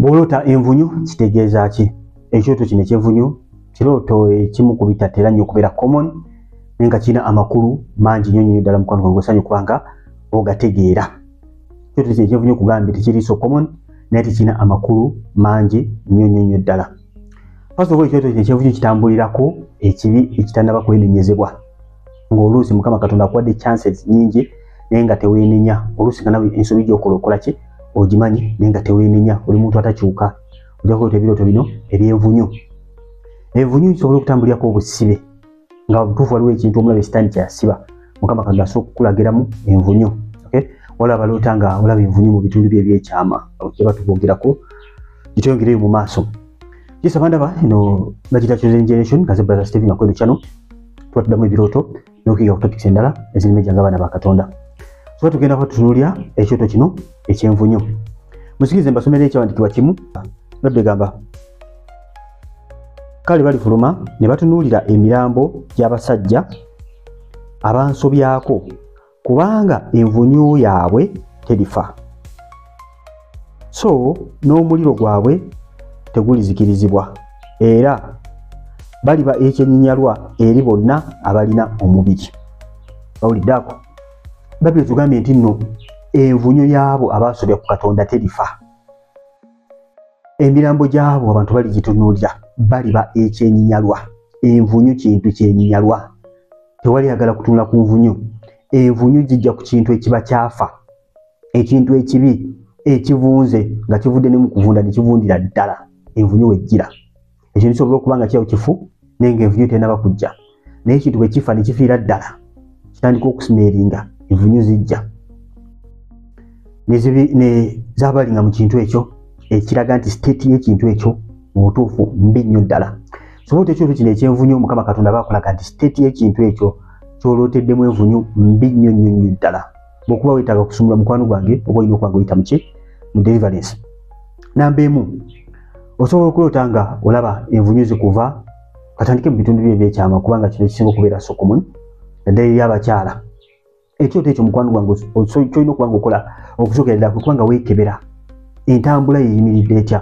Bw'oloota envunyu kitegeeza ki? Ekyoto kino eky'envunyu kirooto ekimu ku bitatera nnyo okubeera common naye nga kirina amakulu mangi nnyo nnyo ddala mukwano gwange osanye okuba nga ogategeera. Ekyoto kino eky'envunyu kugambye tekiri so common naye tekirina amakulu mangi nnyo nnyo nnyo ddala. First of all ekyoto kino eky'envunyu kitambulirako ekibi ekitanaba kwenenyezebwa. ng'oluusi mukama katonda akuwadde chances nyingi naye nga teweenenya oluusi nga nawe ensobi gyokola okola ki ogimanyi naye nga teweenenya oli muntu atakyuka ojakuota ebirooto bino ebyevunyu evunyu nsobola okutambulirako obusibe nga butuufu waliwo ekintu omulabe sitaani kyeyasiba mukama katonda asobola okukulagiramu envunyu olaba loota nga olaba envunyu mu bitundu bye ebyekyama kyeba tubwogerako gitweyongereyo mu maaso kisaba ndaba eno bagita chosen generation nga zebrother stephen akweno channel tuba tuddamu ebirooto n'okuyiga ku topics endala ezirime gya ngabaana ba katonda tuba tugenda kuba tutunuulira ekyoto kino ekyenvunyo musikirize mbasomera ekyawandikibwa kimu nodde gamba kale balifuluma ne batunuulira emirambo gy'abasajja abansobyako kubanga envunyu yaabwe terifa so n'omuliro gwabwe tegulizikirizibwa era baliba ekyenyinyalwa eri bonna abalina omubiri bawuliddako babiri tugambye nti nno envunyu yaabo abaasobya ku katonda terifa emirambo gyabo abantu bali gitunuulira baliba ekyenyinyalwa envunyu kintu kyenyinyalwa tewali agala kutunula ku nvunyu envunyu gijja ku kintu ekiba kyafa ekintu ekibi ekivunze nga kivudde ne mu kuvunda ne kivundira ddala envunyu wejjira ekintu kisobola okuba nga kyawo kifu naye nga envunyu tenaba kujja naye ekintu bwe kifa ne kifiira ddala kitandika okusimeeringa envunyu zijja zabalinga mu kintu ekyo ekiraga nti state y'ekintu ekyo mu butuufu mbi nnyo ddala sobola ekintu kino ekyenvunyu mukama katonda bakulaga nti state y'ekintu ekyo kyolooteddemu envunyu mbi nnyo nnyo nnyo ddala bwekuba wetaaga kusumula mukwano gwange oba olina okwanga oyita muki mu deliverance namba emu osobola okuloota nga olaba envunyu zikuva katandike mu bitundu byo ebyekyama kubanga kino kisinga okubeera sokomun naddala eri abakyala ekyoto ekyo mukwano gwange kyolina okuba nga okola okusokera ddala kubanga weekebera entambula yeyimiridde etya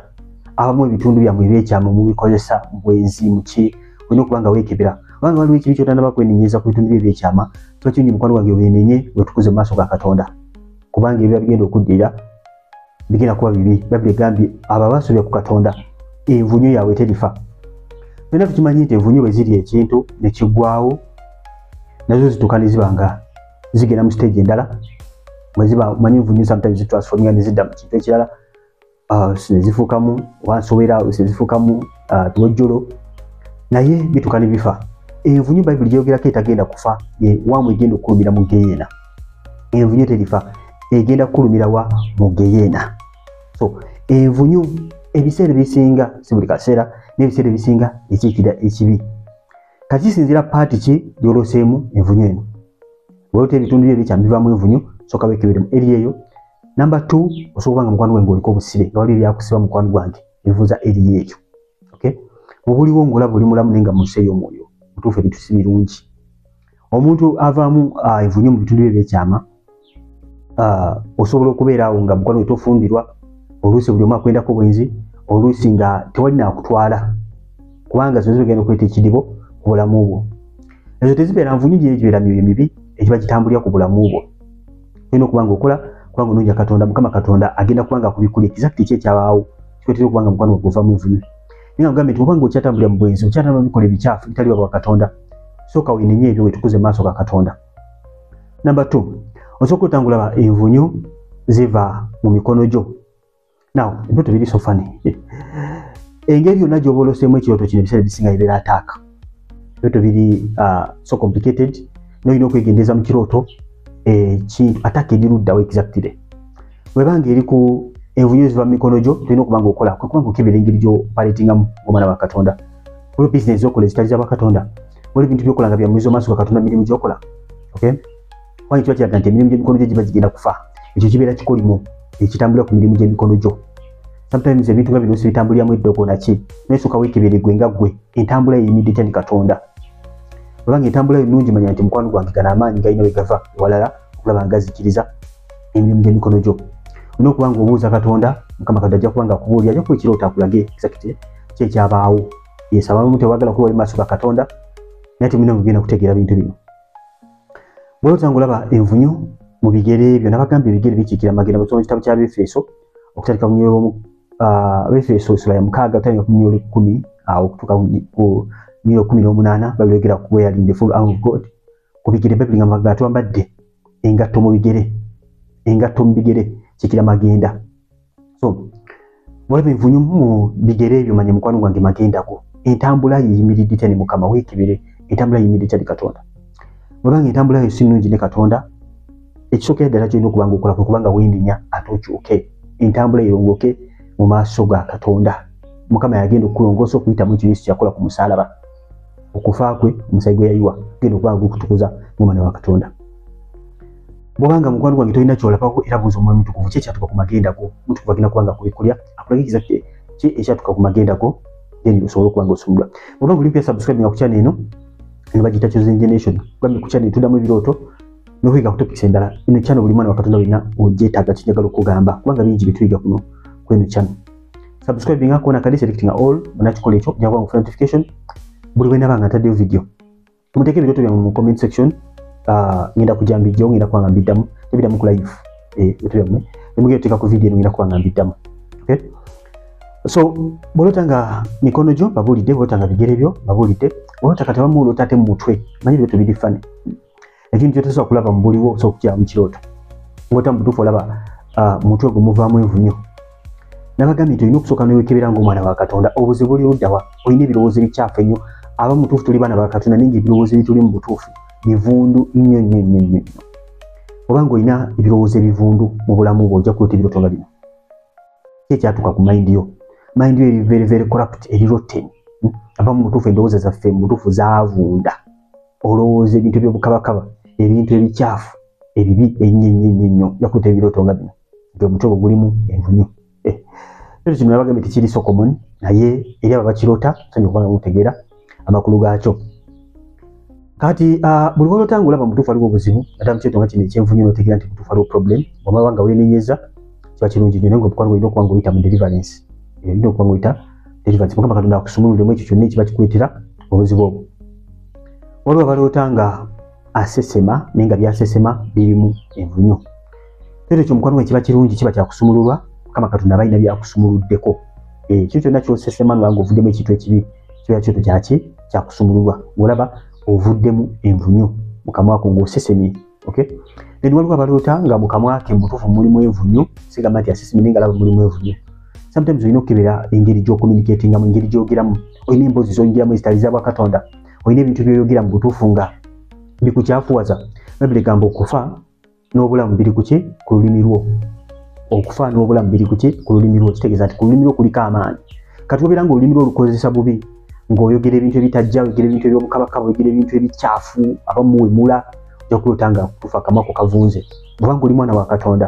abamu ebitundu byammwe ebyekyama mubikozesa bwenzi muki olina okuba nga weekebera kubanga waliwo ekibi kyotanaba kwenenyeza ku bitundu byo ebyekyama kiba kirungi mukwano wange wenenye wetukuze mu maaso ga katonda kubanga ebiba bigenda okuddirira bigenda kuba bibi babbi egambye abo abasobya ku katonda envunyo yaabwe terifa byonna tukimanyi nti envunyo bwe ziri ekintu ne kiggwawo nazo zituuka ne ziba nga zigenda mu siteegi endala mweziba manyi envunyo sometimes zitransforminga ne zidda mu kintu ekirala uh, nezifukamu wansowera nezifukamu uh, lwojjolo naye bituka ne bifa envunyu bayibuli gyogerako etagenda kufa wamu egenda okukulumira mu geyeena envunyu terifa egenda kukulumira wa mu geyeena so envunyu ebiseera ebisinga si buli kaseera n'ebiseera ebisinga ekiikira ekibi kakisinzira paati ki gyoloseemu envunyu eno bwolota ebitundu byo ebikyambivamu envunyu soka wekeberemu eri eyo Number 2 osobola nga mukwano gwange oliko obusibe nga waliyo byakusiba mukwano gwange ebivuza eriyo ekyo okay mubuliwo ngola buli mulamu nenga museyo omwoyo mutuufu ebintu si birungi omuntu avaamu ah, evunye mu bitundu bye byekyama ah, osobola okubeera awo nga mukwano wetofumbirwa oluusi buli omu akwendako bwenzi oluusi nga tewali nakutwala kubanga zino zibagenda okuleeta ekidibo ku bulamu bwo ezo tezibeera nvunyu gyeyo gibeera myoyo mibi egiba gitambulira ku bulamu bwo olina okuba nga okola kubanga onoonya katonda mukama katonda agenda kuba nga akubikulira exactly ki ekyabaawo kikwetera okuba nga mukwano gwe guvamu envunyu naye agambye nti obanga okyatambulira mu bwenzi okyatambula mu bikola ebikyafu bitali baba katonda sooka wenenye ebyo wetukuze maaso ga katonda namba t osooka otangulaba envunyu ziva mu mikono gyo naw ebyoto biri sofani engeri yonna gyoba oloseemu ekirooto kino ebiseera bisinga ibeera ataaka ebyoto biri uh, so complicated nolina okwegendereza mu kirooto ekintu eh, ataaka eriruddawo exactly webanga eri ku envunyu eziva mu mikono gyo tolina okuba nga okola kwekubanga okebera engeri gyopaletingamu omwana wa katonda olwo bisinesi okola ezitali za bakatonda wali ebintu byokola nga byamuiza omaaso ga katonda mirimu gyokola okay kubanga kiba kiraga nti emirimu gy'emikono gyo giba gigenda kufa ekyo kibeera kikolimo ekitambulira ku mirimu gy'emikono gyo sometimes ebintu nga bino sibitambuliramu eddogo naki naesooka weekebere gwe nga gwe entambula eyimidde tya ne katonda obanga entambula yo nungi manya nti mukwano gwange gana amaanyi galina we gava ewalala okulaba nga gazikiriza emirimu gy'emikono gyo olina okuba nga obuuza katonda mukama katonda ajja kuba nga akubuulira ajja kuba ekirooto akulage exact kyekyabaawo yesabamu tewagala kuba oli maaso ga katonda naye temulina mugenda kutegeera bintu bino bwe otanga olaba envunyu mu bigere ebyo nabagamba ebigere bikiikira magenda bwesoma kitabo kya befeso okutandika kunyolo ah, befeso esula ya mukaaga otandika ku nyolo ekkumi awo ah, okutuuka ku nyolo kumi n'omunaana babyogera ku weyalinde full arm of god ku bigere babiri nga magenda twambadde engatto mu bigere engatto mu bigere kiikira magenda so walabe nvunyu mu bigere ebyo manya mukwano gwange magendako entambula yeyimiridde tya ne mukama weekebere entambula yeyimiridde tya ne katonda webanga entambula yo si nnungi ne katonda ekisookera ddala kyolina okubanga okola kwe kubanga weenenya ate okyuke entambula erongoke mu maaso ga katonda mukama yagenda okukulongoosa okuyitamu ekyo yesu kyakola ku musaalaba okufa kwe omusayi gwe yayiwa genda okubanga gukutukuza mu mwana wa katonda bwobanga mukwano gwange tolina kyolabako era buuza omwoyo mutukuvu ki ekyatuka ku magenda go mutukuvu agenda kubanga kubikulya akulagikiza ki ekyatuka ku magenda go then osobola okubanga osumulwa bwobanga olimpya subscribe nga ku channel eno eno bagiyita chosen generation bambi ku channel tudamu ebirooto nokuyiga ku topics endala eno channel buli mwana wakatonda olina ogyetaaga kinjagala okugamba kubanga bingi byetuyiga kuno kweno channel subscribing akona kadi selecting all banakikola ekyo jakuba ngufuna notification buli bwenabanga ntaddeyo video muteeka ebirooto byammwe mu comment section ah, ngenda kujja mbijjawo ngenda kubanga mbiddamu tebiddamu ku live eh, ebirooto byammwe nemugenda oteeka ku vidiyo eno ngenda kubanga mbiddamu okay? so bwolota nga mikono gyo babuulidde bwolota nga bigere byo babuulidde bwolota kati abamu olota ate mu mutwe manyi ebirooto biri fani ekintu kyotasobola kulaba mu buliwo osobola okukiraba mu kirooto ngota mu butuufu olaba ah, mutwe gumuvaamu envunyo nabagambye nti olina okusooka newekebera ngaomwana wa katonda obuzibu buli luddawa olina ebirowoozo ebikyafu ennyo aba mutuufu tuli baana ba katonda naye nga ebirowoozo ebituli mu butuufu bivundu nnyo nnyo nnyo nnyo nnyo obanga olina ebirowoozo ebivundu mu bulamu bwo ojja kuleeta ebiroto nga bino ki ekyatuuka ku mayindi yo mayindi yo eri very very corrupt eri rotten hmm? ava mu butuufu endowooza zaffe mu butuufu zavunda olowooza ebintu ebyobukabakaba ebintu ebikyafu ebibi ennyo ennyo ennyo nnyo ojja kuleeta ebiroto nga bino nti omutwe gwo gulimu envunyu eh, ekyo kino nabagambe tekiri sokomon naye eri abo bakirota sanya okubanga mutegeera amakulu gaakyo kati ah, buli walota nga olaba mutuufu aliwo obuzibu ate mukyeto nga kino ekyenvunyu notegeera nti mutuufu aliwo problem bwamaba nga wenenyeza kiba kirungi nyo naye nga obukwanga olina okubanga oyita mu deliverance eh, olina okubanga oyita deliverance mukama katonda akusumululemu ekyo kyonna ekiba kikuletera obuzibu obwo waliwo abaloota nga asesema naye nga byasesema birimu envunyu kyoto ekyo mukwano gwe kiba kirungi kiba kyakusumululwa mukama katonda abalina byakusumuluddeko ekyo eh, kyonna kyosesema nga ovuddemu ekintu ekibi kiba kyoto kyaki kyakusumululwa olaba ovuddemu envunyu mukamwako ngaosesemye okay then waliwo abaloota nga mukamwake mubutuufu mulimu envunyu sigamba nti asesemye naye nga laba mulimu envunyu sometimes olina okukebera engeri gyokomunikatingamu engeri gyogeramu olina emboozi zoyingiramu ezitali za bwakatonda olina ebintu byoyogera mu butuufu nga bikukyafuwaza babire gamba okufa n'obulamu biri kuki ku lulimi lwo okufa n'obulamu biri kuki ku lulimi lwo kitegeeza nti ku lulimi lwo kuliko amaanyi kati obeera nga olulimi lwo olukozesa bubi ng'oyogera ebintu ebitajja oyogera ebintu ebyobukabaka oyogera ebintu ebikyafu abamuwemula ojja kulota nga kufa akamako kavunze obanga oli mwana wa katonda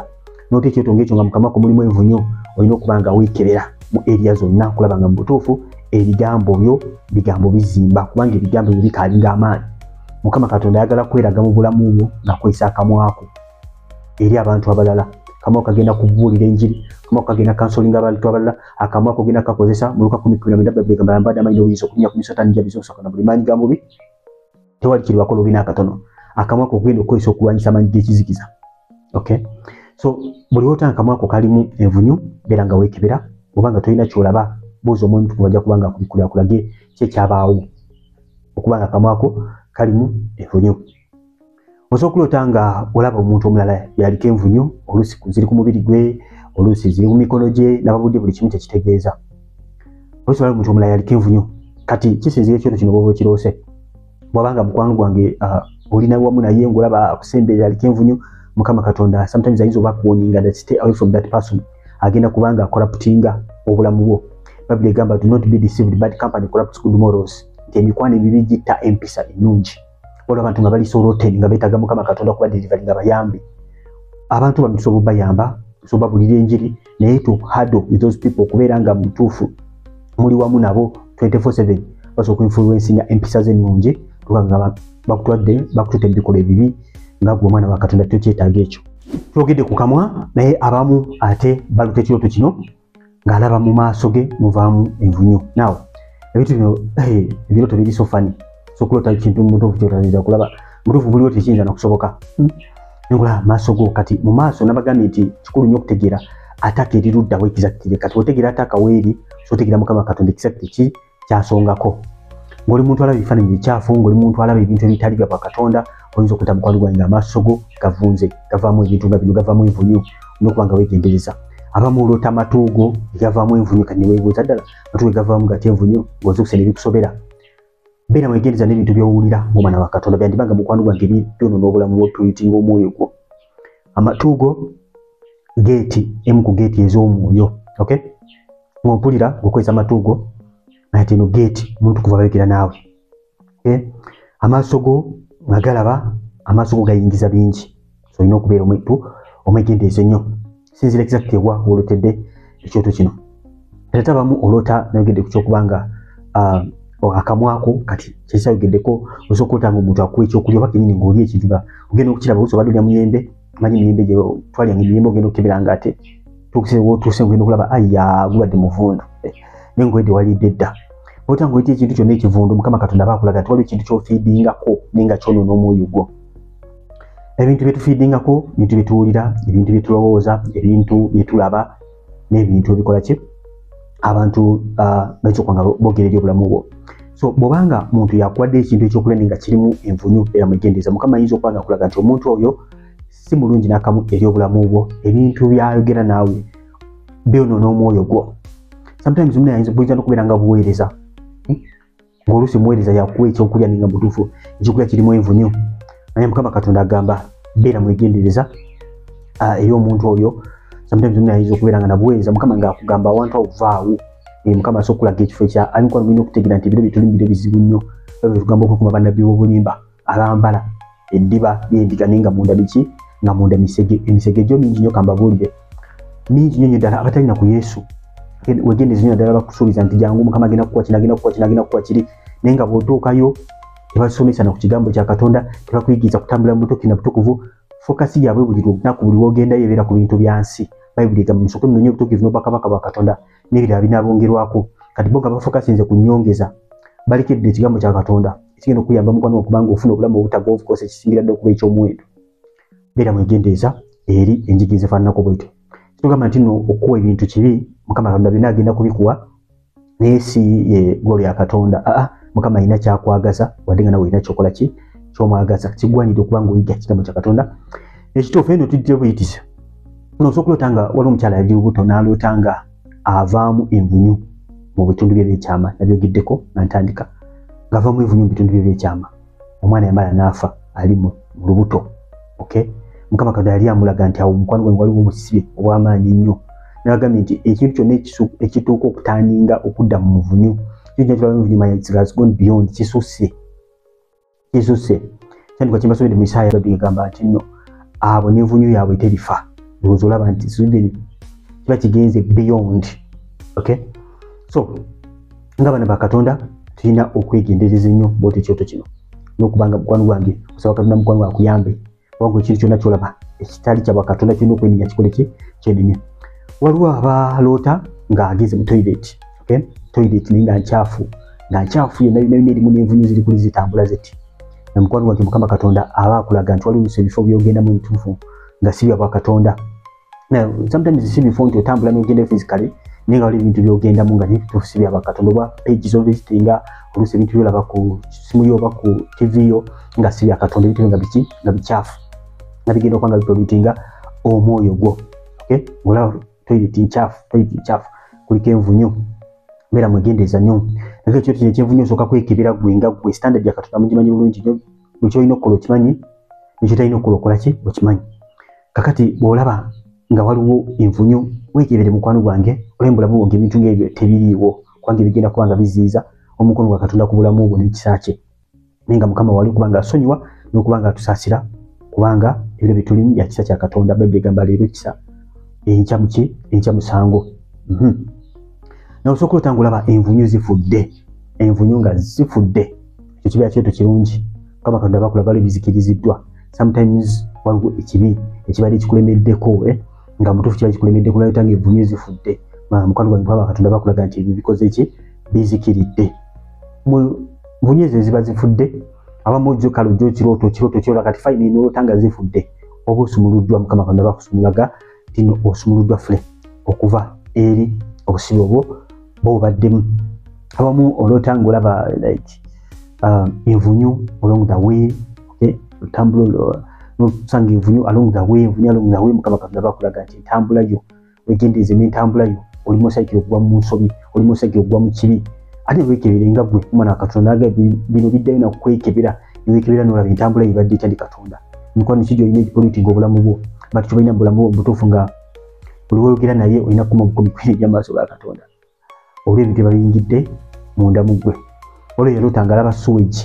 nota ekyoto ngaekyo nga mukamako mulimu envunyo olina okuba nga weekebera mu eriya zonna okulaba nga mu butuufu ebigambo byo bigambo bizimba kubanga ebigambo byo bikaalinga amaanyi mukama katonda ayagala kweraga mu bulamu bwo nakozesa akamwako eri abantu abalala kamwa kagenda kubuulira enjiri kamwa kagenda kansolinga abantu abalala akamwa kogenda kakozesa muluka kumi kumi namwenda baibuli egamba yambadde amanyi n'obuyinza okunya ku misota nija bizibusoka na buli maanyi ga mubi tewali kiribako lobi n'akatono akamwa ko ogenda okukozesa okulwanyisa amaanyi g'ekizikiza okay so buli wota akamwa ko kalimu envunyu beera nga weekebera oba nga tolina kyolaba buuza omuntu kubaja kubanga akubikulakulage kyekyabaawo okuba nga kamwako kalimu envunyu osobola okuloota nga olaba omuntu omulala yaliko envunyu oluusi ziri ku mubiri gwe oluusi ziri mu mikono gye nababudde buli kimu kyekitegeeza oluusi olaba omuntu omulala yaliko envunyu kati kisinzira ekyoto kino bwoba okiroose bwabanga mukwano gwange ah, olina wamu naye ngaolaba akusemberera aliko envunyu mukama katonda sometimes ayinza oba akuwoninga that stay away from that person agenda kubanga akola putinga obulamu bwo babiri egamba do not be deceived bad company corrupts good morals nti emikwano ebibi gitta empisa ennungi waliwo abantu nga bali soroten nga beetaga mukama katonda kuba delivery nga bayambi abantu bano tusobola obayamba tusobola obabulira enjiri naye to hado with those people okubeera nga mutuufu muli wamu nabo 247 basobola okuinfluensinga empisa ze ennungi tuba nga bakutwadde bakutute mu bikolwa ebibi nga gwe omwana wa katonda tokyetaaga ekyo twogedde ku kamwa naye abamu ate baluta ekirooto kino ng'alaba mu maaso ge muvaamu envunyu naw ebintu bino eh, ebirooto biri sofani sokulota kintu mutuufu kyotaira kulaba mutuufu buliwo tekiyinza nakusoboka hmm? nengula maaso go kati mu maaso nabagambye nti kikulu nnyo okutegeera ataka eriruddawo ekizakkire kati otegeera ataka weeri sotegeera mukama katonda ekizakkire ki kyasongako ngoli muntu alaba ebifaananyi bikyafu ngoli muntu alaba ebintu ebitali bya bwakatonda oyinza okuta mukwano gwange nga amaaso go gavunze gavaamu ebintu nga bino gavaamu envunyu nokuba nga wegendereza abamu olota amatuugo egavaamu envunyu kati newebuuza ddala matuugo egavaamu gati envunyu ngaoza okusana ebikusobera beera wegendereza n'ebintu byowulira ngaomwana wakatonda byandiba nga mukwano gwange byonona obulamu bwotuyitinga omwoyo gwo amatuugo geeti emu ku geeti ez'omwoyo okay ng'ompulira ng'okozesa amatuugo naye tino geeti omuntu kuva bayogera naawe okay? amaaso go nga galaba amaaso go gayingiza bingi so olina okubeera omuntu omwegendeezo nnyo sinzira exactly wa wolotedde ekyoto kino ate abamu olota nayogedde ku kyokuba nga ah, akamwako kati kyesayogeddeko osa okulota nga omuntu akuwa ekyokulya oba kenyini ngaoli ekintu nga ogenda okukiraba osa obadde olya muyembe manyi miyembe gye twalya nga emiyembe ogenda okukebera nga ate tuukise wotuuse ogenda okulaba aya gubadde muvundu eh, naye ngaoyedde walidde dda olota ngaoyita ekintu kyonna ekivundu mukama katonda bakulaga nti waliwo ekintu kyofiidingako naye nga kyonoona omwoyo gwo ebintu bye tufiidingako ebintu bye tuwulira ebintu bye tulowooza ebintu bye tulaba n'ebintu ebikola ki abantu ah, bakyokwa nga bogera eri obulamu bwo so bwobanga muntu yakuwadde ekintu ekyokulende nga kirimu envunyu era mwegendereza mukama ayinza okuba nga akulaga nti omuntu oyo si mulungi nakamu eri obulamu bwo ebintu byayogera naawe byonoona omwoyo gwo sometimes muna yinza buyinza nokubeera nga buweereza oluusi muweereza yakuwa ekyokulya ninga mutuufu ekyokulya kirimu envu nyo naye mukama katonda agamba beera mwegendereza ah, eri omuntu oyo ayinza okubeera nga nabuweereza mukama ngaakugamba awantu awo vaawo eh, mukama asobola okulaga ekifo ekya ayinza okuba nti bino byetuli mubiro bizibu nnyo ebyo byetugamba okukuma bannabbi b'obulimba abambala eddiba lyendiga naye nga munda biki nga munda misege emisege gyo mingi nyo kambabuulire mingi nyo nyo ddala abatalina ku yesu wegenda ezinyo naddala bakusuubiza nti jangu mukama agenda kukuwa kino agenda kukuwa kino agenda kukuwa kiri naye nga bwotuukayo tebasomesa na ku kigambo kya katonda tebakuyigiriza kutambula mu butuuki na butukuvu fokasi yaabwe buli lunaku buli wogendayo ebeera ku bintu bya nsi bayibuli egamba musooke munonye obutuukivu n'obwakabaka bwa katonda n'ebirala binaabongerwako kati bo nga bafokasinze ku nyongeza balekedde ekigambo kya katonda kigenda okuyamba mukwano okubanga ofuna obulamu obutaga ofukosa ekisingira dda okuba ekyomuwendo beera mwegendereza eri enjigi ezifaananako bwetyo kitugamba nti no okukuwa ebintu kibi mukama katonda byona agenda kubikuwa naye si ye golo ya katonda aa mukama alina kyakwagaza wadde nga nawe olina kyokola ki kyomwagaza kigwanidde okuba nga oyiga kigambo kya katonda ekituufu eno tujja buyitiza nosobola okuloota nga waliwo omukyala yali lubuto n'aloota nga avaamu envunyu mu bitundu bye byekyama nabyogeddeko nga ntandika ngavaamu envunyu mu bitundu bye byekyama omwana yamala naafa ali mu lubuto okay mukama katonda yali amulaga nti awo omukwano gwange waliwo obusibe obwamaanyi ennyo nagambye nti ekintu kyonna ekituuka okutandinga okudda mu nvunyu kisusse kizuse kyandika kyebasobede mu isaaya badu egamba nti no abo nenvunyu yaabwe terifa ndowooza olaba nti sweden kiba kigenze beyond okay so nga bana bakatonda tulina okwegendereza ennyo bwoti ekyoto kino nokubanga mukwano gwange osaba katonda mukwano gwakuyambe wabula ekintu kyonna kyolaba ekitali kyabwa katonda kirina okwenenya kikole ki kyenenya waliwo abaloota ng'ageze mu toilet okay? toilet naye nga nkyafu nga nkyafu yenayonayona erimu n'envunyu ziri kuli zitambula ziti namukwano wange mukama katonda aba akulaga nti waliwo ebifo byogenda mu bituufu nga si byabwa katonda now sometimes si bifo nti otambula nogenda physically naye nga wali ebintu byogendamu nga nebituufu si byabakatonda oba page zovisitinga oluusi ebintu byolaba ku simu yo oba ku tv yo nga si byakatonda ebintu nga biki nga bikyafu nga bigenda okuba nga bipolutinga omwoyo gwo okay olaba toilet nkyafu toilet nkyafu kuliko envunyu beera mwegendereza nnyo naye ekyo kino ekyenvunyu osooka kwekebera gwe nga gwe standard yakatonda mugimanyi bulungi nyo buli kyolina okukola okimanyi nekyotalina okukola okola ki okimanyi kakati bwolaba nga waliwo envunyu wekebere mukwano gwange olaba mubulamu bwo ngebintu ngebyo tebiriiwo kubanga ebigenda kuba nga biziiza omukono gwa katonda ku bulamu bwo n'ekisa kye naye nga mukama wali kubanga asonyiwa n'okuba nga atusaasira kubanga ebiro byetulimu bya kisa kya katonda bayibuli egamba leero kisa enkya muki enkya musango mhm. nawe osobola okulota nga olaba envunyu zifudde envunyu nga zifudde ekibiina kyetu kirungi kama katonda bakula bali bizikiriziddwa sometimes waliwo ekibi ekibadde kikulemeddeko eh? nga mutuufu kiba kikulemeddeko nayota nga evunyo zifudde mukwano gwange kuba bakatonda bakulaga nti ebyo bikoze ki bizikiridde vunyo ezo eziba zifudde abamu ojjo kale ojjo kirooto kirooto kyola kati fayina enoota nga zifudde oba osumuluddwa mukama katonda bakusumulaga tino osumuluddwa fule okuva eri obusibe obwo bobaddemu abamu olota nga olaba like um, envunyu along the way okay otambula nosanga envunyu along the way envunyu along the way mukama katonda bakulaga nti entambula yo wegendeeze n'entambula yo oli musaikire okuva mu nsobi oli musaikire okuva mu kibi ate wekebere nga gwe omwana wa katonda aga bino biddayo nakukwekebera newekebera nolaba entambula yebadde etya ndi katonda mukwano kiki gyolina ekipolitinga obulamu bwo but kyobalina mubulamu bwo mubutuufu nga oliwoyogera naye olina kukuma bukumi kwiri egyamaaso ga katonda olw ebintu ebayingidde munda mu gwe olwo yaloota nga alaba suwegi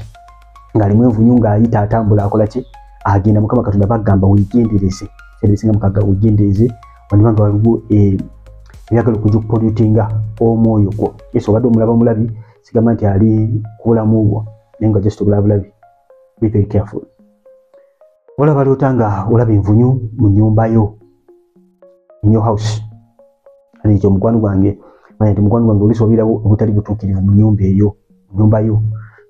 ngaalimu envunyu ngaayita atambula akola ki agenda mukama katonda bagamba wegendereze ebisinga mukaga wegendereze waniba nga waliwo eh, ebyagala okuja okupolutinga omwoyo gwo yesu obadde omulaba omulabi sigamba nti ali kubulamu bwo naye nga just obulabulabi be very careful olaba loota nga olaba envunyu mu nyumba yo in your house ani ekyo mukwano gwange manya nti mukwano gwange olusi obeerawo obutali butuukirivu mu nyumba eyo mu nyumba yo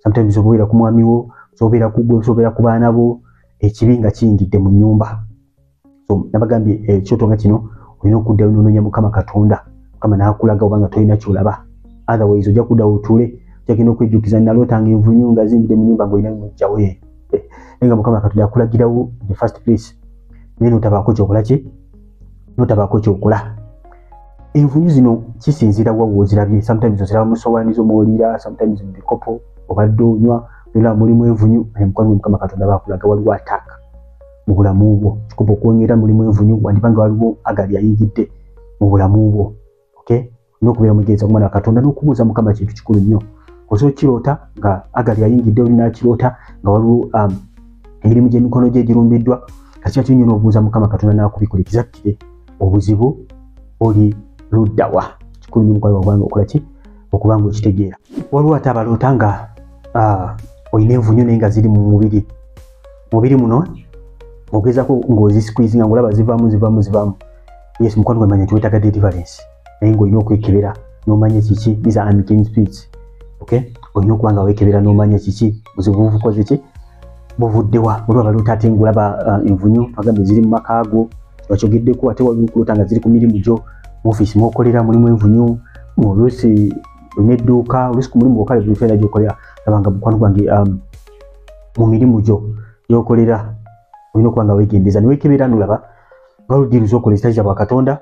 sometimes obeera ku mwami wo obeera ku gwe obeera ku baana bo ekibi nga kiyingidde mu nyumba so nabagambye ekyoto eh, nga kino olina okuddayo nononya mukama katonda mukama nakulaga obanga tolina kyolaba otherwise ojja kudda otuule jagenda okwejjukiza nalootanga envunyu nga zingide munyumba ngaolina mujjawo ye eh, naye nga mukama katonda akulagirawo the first place naye notabaako kyokola ki notabaako kyokola envunyu zino kisinzira wa wozirabye sometimes oziraba musowani zomwoliira sometimes mubikopo obadde onywa nolaba mulimu envunyu naye mukama katonda bakulaga waliwo ataaka mu bulamu bwo kikuba okuwonyera mulimu envunyu wandiba nga waliwo agali ayingidde mu bulamu bwo okay nokubeera mugenza kumwana wa katonda nokubuuza mukama kintu kikulu nnyo oza okiroota nga agali ayingidde olinakiroota nga waliwo um, emirimu gyemikono gye girumbiddwa kakika kinyo nobuuza mukama katonda nakubikula ekizakkire obuzibu oli luddawa kikulu nnyo mukwano wagwange okola ki okuba nga okitegeera waliwo ate abaloota nga uh, olina envunyu naye nga ziri mu mubiri mubiri muno ogezako ng'ozisikuizinga ng'olaba zivamu zivamu zivamu yes mukwano gwe manya tiwetaga deliverance naye ng'olina okwekebera n'omanya kiki these are unclean spirits okay olina okuba nga wekebera n'omanya kiki buzibu buvukoze ki buvuddewa olwa baloota ate ng'olaba uh, envunyu agambe ziri mu maka ago wakyogeddeko ate waliwo okuloota nga ziri ku mirimu gyo mu ofiisi mwokolera mulimu envunyu oluusi olina edduuka oluusi ku mulimu gwokale buli fena gyokolera laba nga mukwano gwange um, mu mirimu gyo gyokolera olina okuba nga wegendeza niwekebera nolaba nga ludiruza okola ekitaiza bwa katonda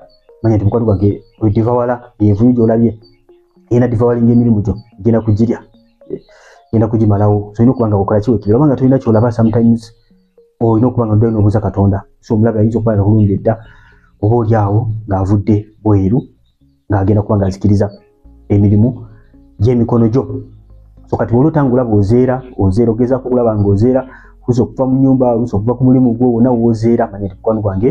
manya nti mukwano gwange edivawala envuyu gyolabye ena divawalinga emirimu gyo genda kugirya genda kugimalawo solina okuba nga okola kiwekebera obanga tolina kyolaba sometimes olina okuba nga noddayo nobuuza katonda so omulabe ayinza okuba nga kulumba edda oba oli awo ng'avudde bweru ng'agenda kuba ng'azikiriza emirimu gy'emikono gyo so kati wali otangula bwozeera ozeera ogezaako okulaba ng'ozeera kuza okuva mu nyumba kuza okuva ku mulimu gwo wona wozeera manya ti mukwano gwange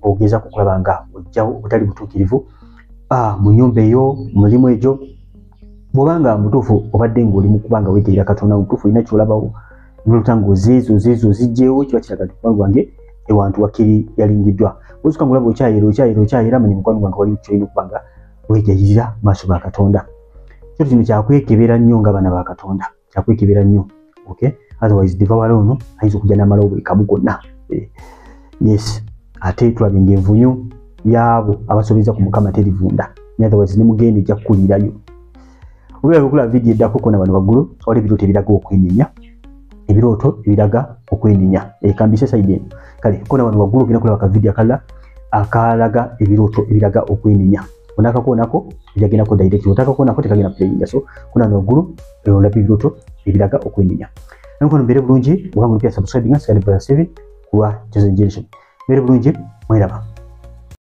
ogeza kukulaba nga ojjawo obutali butuukirivu ah, mu nyumba eyo mulimu egyo bwobanga mutuufu obadde ngaoli mukuba nga weteera katonda mutuufu olina kyolabawo nolota ngozeezo zeezo ozijjeewo kiba kiraga nti mukwano gwange ewantu wakiri yalingiddwa ozuka ngolaba okyayera okyayera okyayera manya mukwano gwange waliwo kyolina okuba nga wejayirira maaso ga katonda so kino kyakwekebera nnyo nga abaana ba katonda kyakwekebera nnyo ok otherwise devawala ono ayinza okujja namalawo buli kamu konna eh, yes ate tulaba nga envunyo yaabo abasobeza ku mukama terivunda otherwise nemugenda ejja kukulirayo webale okulaba vidiyo eddako kona wano waggulu wali ebirooto ebiraga okwenenya ebirooto ebiraga okwenenya ekambise saidi eno kale kona wano waggulu ogenda kulaba kavidiyo akalala akalaga ebirooto ebiraga okwenenya onakakonako ejagendako direct otakakonako tekagenda playinga so kona wano waggulu olaba ebirooto ebiraga okwenenya nankono mbeere bulungi oba mulipya subscribinga sigalibrasevin kuwa chosen generation mbeere bulungi mweraba